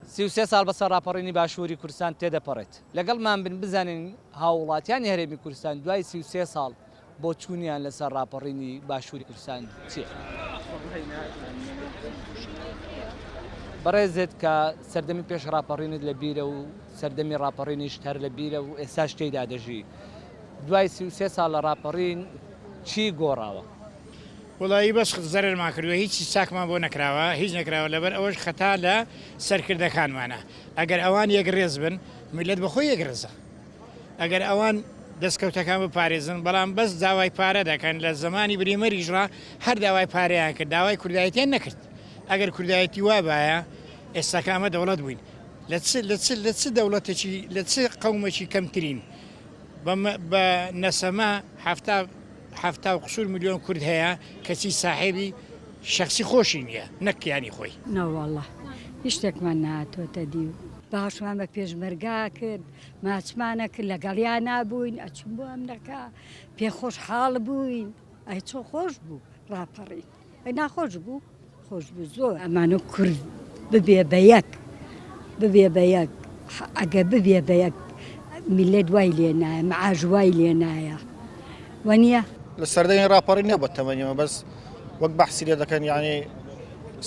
سی و سێ ساڵ بەسەر ڕاپەڕینی باشووری کوردستان تێدەپەڕێت، لەگەڵمان بن بزانین هاووڵاتیانی هەرێمی کوردستان دوای سی و سێ ساڵ بۆچوونیان لەسەر ڕاپەڕینی باشووری کوردستان چییە؟ بەڕێزت کە سەردەمی پێش ڕاپەڕینت لە بیرە و سەردەمی ڕاپەڕینیشت هەر لە بیرە و ئێستاش تێیدا دەژی، دوای سی و سێ ساڵ لە ڕاپەڕین چی گۆڕاوە؟ وەڵایی بەس زەرەرمان کردوە هیچی چاکمان بۆ نەکراوە هیچ نەکراوە لەبەر ئەوەش خەتا لە سەرکردەکانمانە ئەگەر ئەوان یەکڕێز بن میلەت بەخۆی یەکڕێزە ئەگەر ئەوان دەستکەوتەکان بپارێزن بەڵام بەس داوای پارە دەکەن لە زمانی بریمەریش ڕا هەر داوای پارەیان کرد داوای کوردایەتیان نەکرد ئەگەر کوردایەتی وابایە ئێستاکە ئەمە دەوڵەت بووین لە چ لە چ لە چ دەوڵەتێکی لە چ قەومەکی کەمترین بە نەسەمە هەفتا حەفتا و قسور ملیۆن کورد هەیە کەچی ساحێبی شەخسی خۆشی نیە نەک کیانی خۆی. ناوەڵا هیچ شتێکمان نەهاتۆتە دی. باشمان بە پێشمەرگا کرد ماچمانە کرد لەگەڵیا نابووین ئەچوون بۆ ئەمرەکا پێ خۆش حاڵ بووین ئەی چۆ خۆش بوو ڕاپەڕین. ناخۆش بوو خۆش بوو زۆر ئەمانە کورد ببێ بە یەک ببێ بە یەک ئەگە ببێ بە یەک میلەت وای لێ نایە معاش وای لێ نایە وەنیە لە سەردەی ڕاپەڕی نەبە تەمەنیەوە بەس وەک بەحسی لێ دەکەن یعنی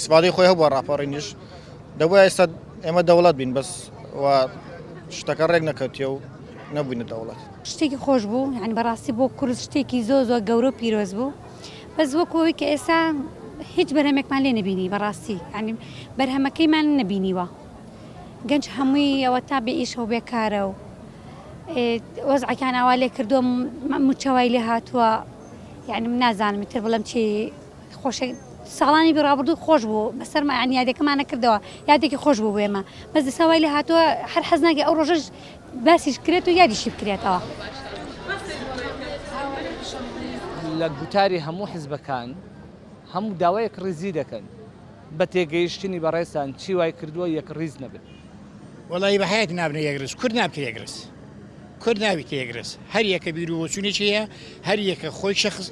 سپادی خۆی هەبووە ڕاپەڕینیش دەبوو ئێستا ئێمە دەوڵەت بین بەس شتەکە ڕێک نەکەوتیە و نەبووینە دەوڵەت شتێکی خۆش بوو هەن بەڕاستی بۆ کورس شتێکی زۆ زۆر گەورە و پیرۆز بوو بەس وەکو ئەوەی کە ئێستا هیچ بەرهەمێکمان لێ نەبینی بەڕاستی ینی بەرهەمەکەیمان نەبینیوە گەنج هەمووی ئەوە تا بێ ئیشەوە بێکارە و وەزعەکان ئاوا لێ کردوم مچەوای لێ هاتووە یعنی من نازانم تر بڵم چی خۆشێک ساڵانی بڕابردوو خۆش بوو بەسەرمایان یادەکەمانە کردەوە یادێکی خۆش بوو بێمە بەس دەسەوای لە هاتووە هەر حەزناگە ئەو ڕۆژەش باسیش بکرێت و یادیشی بکرێتەوە. لە گوتاری هەموو حزبەکان هەموو داوا یەکڕیزی دەکەن، بە تێگەیشتنی بەڕێزتان چی وای کردووە یەکڕیز نەبن؟ وەڵایی بە هەیەک نابنە یەکڕیز، کورد نابتە یەکڕیز، کورد نابیتە یەکڕیز، هەر یەکە بیرو بۆچوونێکی هەیە، هەر یەکە خۆی شەخس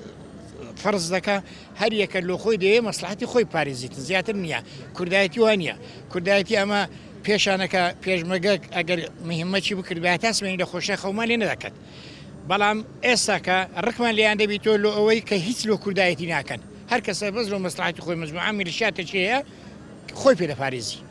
فەرز دەکا، هەر یەکە لۆخۆی دەیەوێت مەسلەحەتی خۆی بپارێزیتن زیاتر نییە کوردایەتی وا نییە کوردایەتی ئەمە پێشانەکە پێشمەگەک ئەگەر مهمەتی بکردبێت تا سمێنی لە خۆشە خەومان لێ نەدەکەت بەڵام ئێستاکە ڕقمان لێیان دەبی تۆ لۆ ئەوەی کە هیچ لۆ کوردایەتی ناکەن هەر کەسە بەس لۆ مەسلحاتی خۆی مەزموعامی لە شاتەچەیە خۆی پێ دەپارێزی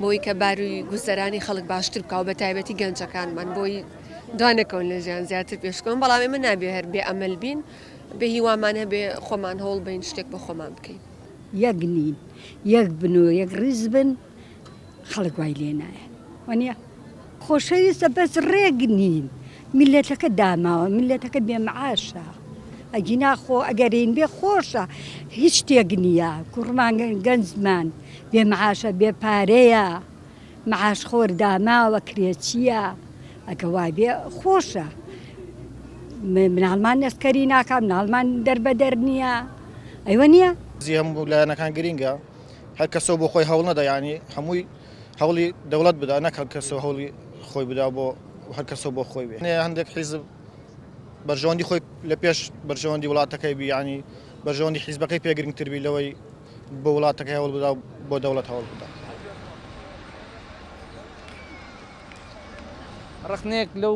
بۆی کە باروی گوزەرانی خەڵک باشتر بکا و بە تایبەتی گەنجەکانمان بۆی دوا نەکەون لە ژیان زیاتر پێشکەون بەڵام ئێمە نابێ هەر بێ ئەمەل بین بێ هیوامان هەبێ خۆمان هەوڵ بین شتێک بۆ خۆمان بکەین. یەک نین یەک بن و یەک ڕیز بن خەڵک وای لێ نایەت وانیە؟ خۆشەویستە بەس ڕێک نین میلەتەکە داماوە میلەتەکە بێ معاشە ئەگینا خۆ ئەگەرین بێ خۆشە هیچ شتێک نییە کوڕمان گەنجمان بێ معاشە بێ پارەیە معاش خۆر داماوە کرێچیە ئەگە وابێ خۆشە مناڵمان نەسکەری ناکام ناڵمان دەربەدەر نییە ئەوە نییە زی هەموو لایەنەکان گرینگە هەر کەسەوە بۆ خۆی هەوڵ نەدەیانی هەمووی هەوڵی دەوڵەت بدا نەک هەر کەسە هەوڵی خۆی بدا بۆ هەر کەسە بۆ خۆی بێ هەندێک حیزب بەرژەوەندی خۆی لە پێش بەرژەوەندی وڵاتەکەی بیانی بەرژەوەندی حیزبەکەی پێگرنگتربی لەوەی بۆ وڵاتەکە هەوڵ بدا بۆ دەوڵەت هەوڵ بدا. ڕخنێک لەو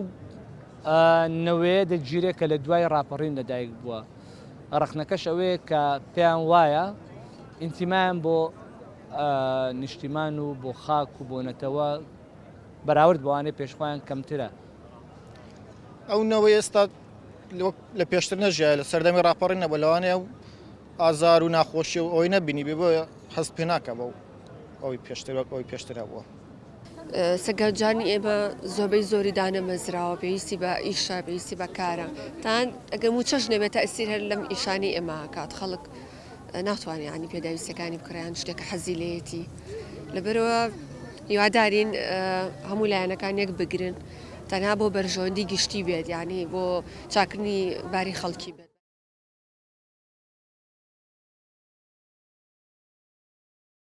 نەوەیە دەگیرێت کە لە دوای ڕاپەڕین لەدایک بووە ڕخنەکەش ئەوەیە کە پێیان وایە ئینتیمایان بۆ نیشتیمان و بۆ خاک و بۆ نەتەوە بەراورد بەوانەی پێش خۆیان کەمترە. ئەو نەوەی ئێستا لە پێشتر نەژیایە لە سەردەمی ڕاپەڕین نەبوو لەوانەیە و ئازار و ناخۆشی و ئەوەی نەبینی بێ بۆیە هەست پێ ناکە بەو ئەوی پێشتر وەک ئەوی پێشتر هەبووە سەگەرجانی ئێمە زۆربەی زۆری دانەمەزراوە پێویستی بە ئیشە پێویستی بەکارە تان ئەگەر موچەش نەبێت تەسیر هەر لەم ئیشانی ئێمە کات خەڵک ناتوانێت ینی پێداویستەکانی بکڕیان شتێکە حەزی لەیەتی لەبەرەوە هیوادارین هەموو لایەنەکان یەک بگرن تەنها بۆ بەرژەوەندی گشتی بێت ینی بۆ چاکنی باری خەڵکی بێت